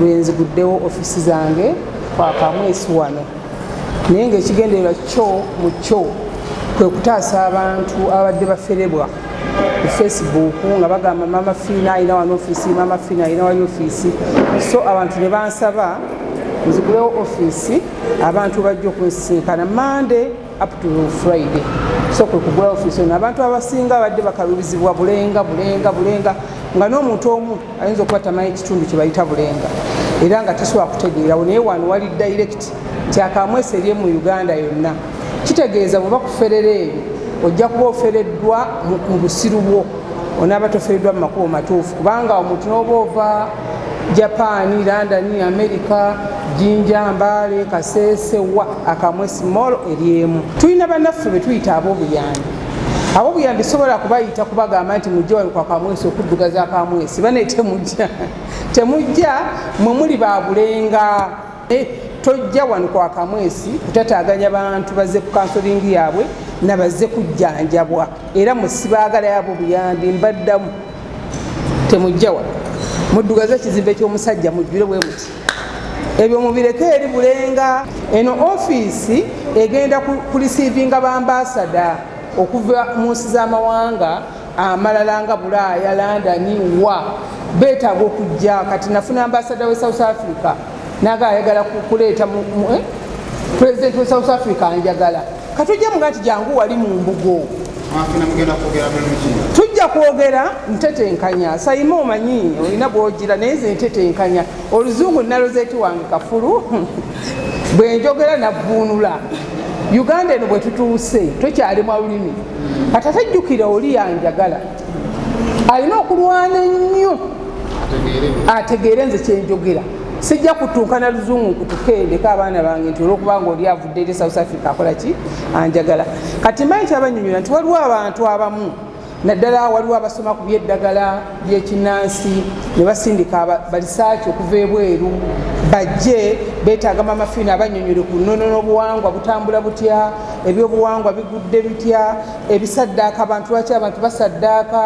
lwenziguddewo ofisi zange kwakamwesi wano naye ngaekigendererwa kyo mu kyo kwe kutaasa abantu ababadde baferebwa ku facebook nga bagamba mama fiina alina wano ofisi mama fiina alina wali ofisi so abantu ne bansaba nzigulewo ofisi abantu bajja okunsisinkana mande up to friday so kwe kugula office ono abantu abasinga abadde bakalubizibwa bulenga bulenga bulenga nga n'omuntu omu ayinza okuba tamanyi ekitundu kye bayita bulenga era nga tasobola kutegeerawo naye wano wali direct nti akamwesa eri mu uganda yonna kitegeeza bweba kuferera ebyo ojja kuba ofereddwa mu busiru bwo onaaba tofereddwa mu makubo matuufu kubanga omuntu n'oba ova Japan, London, America, Jinja, Mbale, Kasese, wa akamwe small eryemu. Tulina banaffe betuyita abobuyambi. Abobuyambi sobola kubayita kubagamba nti mujja wali kwa kamwesi okuddugaza akamwesi bane temujja temujja mwe muli babulenga. Eh, tojja wano kwa kamwesi kutataganya bantu bazze ku kansolingi yaabwe nabazze kujjanjabwa era musibaagala yabo buyambi mbaddamu temujja wano muddugaze ekizimbe ky'omusajja mujjule bwe muti ebyo mubireke eri bulenga eno ofiisi egenda kulisiivinga bambasada okuva mu nsi z'amawanga amalala nga bulaaya landani wa beetaaga okujja kati nafuna ambasada we south africa naga ayagala kuleeta eh? president we south africa anjagala katujja muga nti jangu wali mu mbugo tujja kwogera ntetenkanya sayima omanyi olina bwogira naye nze ntetenkanya oluzungu nalozeti wange kafulu bwenjogera navvuunula uganda eno bwetutuuse tokyali mwa lulimi kati ate jjukira oli yanjagala alina okulwana ennyo ategeere nze kyenjogera sijja kutunkana luzungu kutukeendeko abaana bange nti olwokuba nga oli avudde eri south africa akola ki anjagala kati manyi kyabanyonyola nti waliwo abantu abamu naddala waliwo abasoma ku byeddagala yekinansi ne basindika balisaaki okuva ebweru bajje betaaga mama fiina abanyonyole ku nnono n'obuwangwa butambula butya ebyobuwangwa bigudde bitya ebisaddaaka abantu lwaki abantu basaddaaka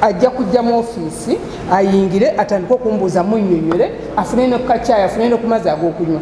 ajja kujja mu ofiisi ayingire atandike okumbuuza munyonyole afune nokukakyaya afune nokumazi ag'okunywa